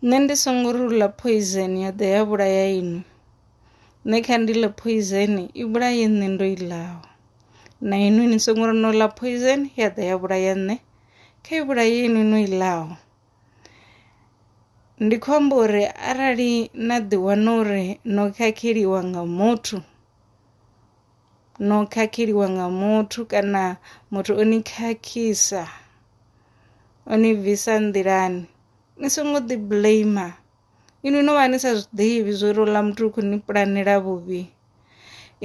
Nṋe ndi songo ri u ḽa phoizeni ya ḓa ya vhulaya inwi. Nṋe kha ndi ḽe phoizeni i vhulaye nṋe ndo i ḽaho. Na inwi ni songo ri no ḽa phoizeni ya ḓa ya vhulaya nṋe kha i vhulaye inwi no i ḽaho. Ndi khou amba uri arali na ḓi wana uri no khakheliwa nga muthu. no khakheliwa nga muthu kana muthu o ni khakhisa o ni bvisa nḓilani ni songo ḓi blamer inwi no vha ni sa zwiḓivhi zwori houḽa muthu u kho ni pulanela vhuvhi.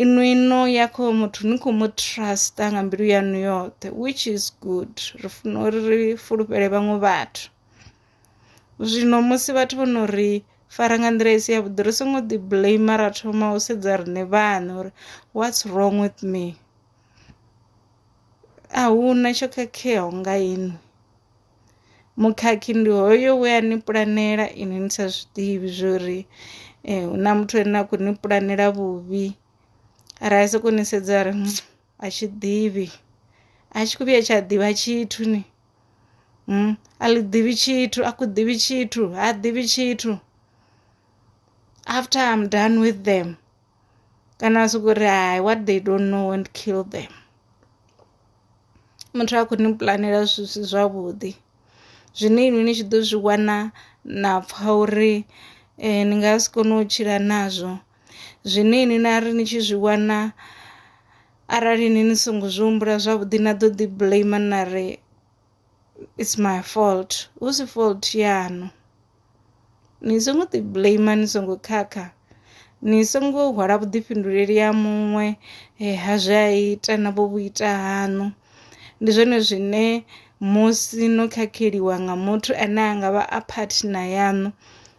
Inwi no ya kho muthu ni kho mu truster nga mbilu yaṋu yoṱhe which is good ri funa uri ri fulufhele vhaṅwe vhathu. Zwino musi vhathu vho no ri fara nga nḓila i si yavhuḓi ri songo ḓi blame ra thoma u sedza riṋe vhaṋe uri what's wrong with me a hu na tsho khakheaho nga inwi. Mukhakhi ndi hoyo we a ni pulanela inwi ni sa zwiḓivhi zwori hu na muthu ane a khou ni pulanela vhuvhi ra ya sokou ni sedza ra ri . a tshi ḓivhi a tshi khou vhuya tsha ḓivha tshithu ni mm, a ḽi ḓivhi tshithu a khou ḓivhi tshithu ha ḓivhi tshithu after i'm done with them kana a sokou ri hai what they don't know won't kill them muthu a khou ni pulanela zwithu si zwavhuḓi zwine inwi ni tshi ḓo zwi wana na pfha uri um ni nga si kone u tshila nazwo Zwine inwi na ri ni tshi zwi wana arali inwi ni songo zwi humbula zwavhuḓi na ḓo ḓi blame na ri is my fault hu si fault yaṋu. Ni songo ḓi blame ni songo khakha ni songo hwala vhuḓifhinduleli ha muṅwe ha zwe a ita na vho vhu ita haṋu. Ndi zwone zwine musi no khakheliwa nga muthu ane a ngavha a partner yaṋu.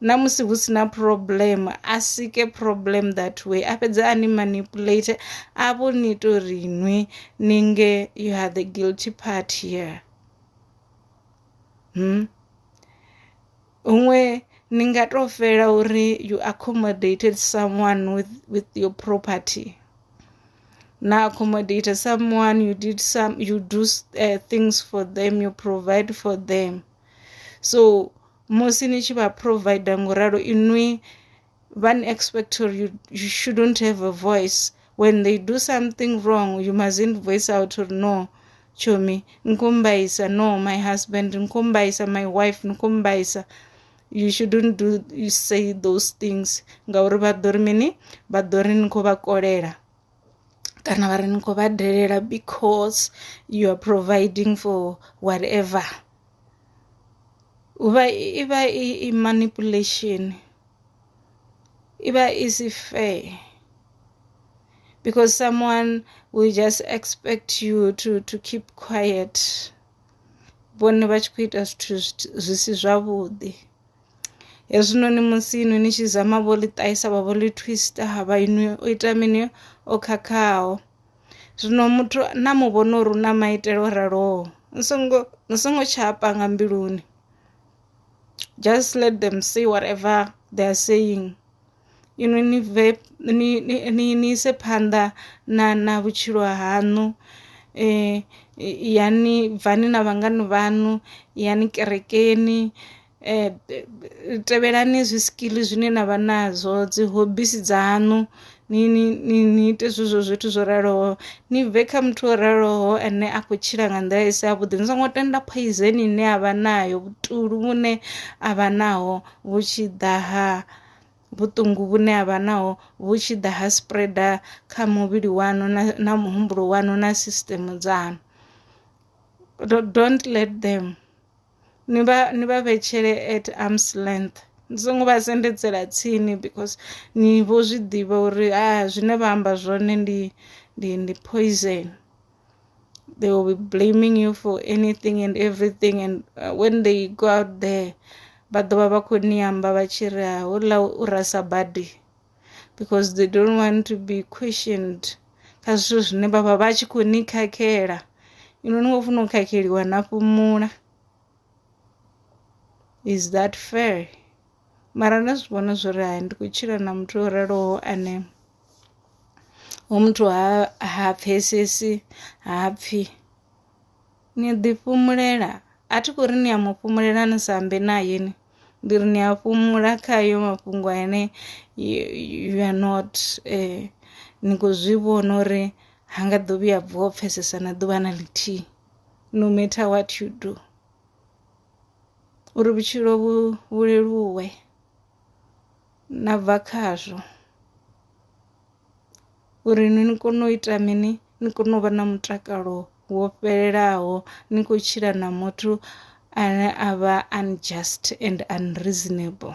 na musi hu si na problem a sike problem that way a fhedze a ni manipulate a vho ni ita uri nwi ni nge you are the guilty part here hmm? huṅwe ni nga tou fela uri you accommodated someone with, with your property na accommodate someone you did some you do uh, things for them you provide for them so musi ni tshi vha provider ngo ralo inwi vha ni expect uri you, you shouldn't have a voice when they do something wrong you mustn't voice out uri no chomi nkumbaisa no my husband nkumbaisa my wife nkumbaisa you shouldn't do you say those things ngauri vha ḓo ri mini vha ḓo ri ni khou vha kolela kana vha ri ni khou vha dalela because you are providing for whatever huvha i vha i manipulation i vha i si fair because someone will just expect you to to keep quiet vhone vha tshi khou ita zwithu zwi si zwavhuḓi. hezwinoni musi inwi ni tshi zama vho ḽi ṱahisa vha vho ḽi twista ha vha inwi o ita mini o khakhaho zwino muthu na mu vhona uri u na maitele o raloho ni songo ni songo tsha panga mbiluni just let them say whatever they are saying inwi ni bve ni ni ni ise phanḓa na na vhutshilo haṋu yani bvani na vhangana vhaṋu yani kerekeni. eh, tevhelani zwi skill zwine na vha nazwo dzi hobisi dzaṋu ni ni ni ni ite zwezwo zwithu zwo raloho ni bve kha muthu o raloho ane a khou tshila nga nḓila i si yavhuḓi ni songo tenda poison ine a vha nayo vhutulu vhune a vha naho vhu tshi ḓa ha vhuṱungu vhune a vha naho vhu tshi ḓa ha spreader kha muvhili waṋu na, na muhumbulo waṋu na system dzaṋu don't let them ni vha ni vha vhetshele at arms length ni songo vha sendedzela tsini because ni vho zwi ḓivha uri ha zwine vha amba zwone ndi ndi ndi poison they will be blaming you for anything and everything and uh, when they go out there vha ḓovha vha khou ni amba vha tshi ri houḽa u rasa badi. because they don't want to be questioned kha zwithu zwine vha vha vha tshi khou ni khakhela inwi ni khou funa u khakheliwa na fhumula is that fair mara nda zwi vhona zwo ri hai ndi khou tshila na muthu o raloho ane hoyu muthu ha ha pfhesesi ha pfhi Ni ḓi fhumulela, a thi khou ri ni a mu fhumulela ni sa ambe nae ni ndi ri ni a fhumula kha hayo mafhungo ane you are not ni khou zwi vhona uri ha nga ḓo vhuya a vuwa u pfhesesa na ḓuvha na ḽithihi no matter what you do uri vhutshilo vhu vhu leluwe. na bva khazwo uri ni kone u ita mini ni kone u vha na mutakalo wo fhelelaho ni kho tshila na muthu ane a vha unjust and unreasonable .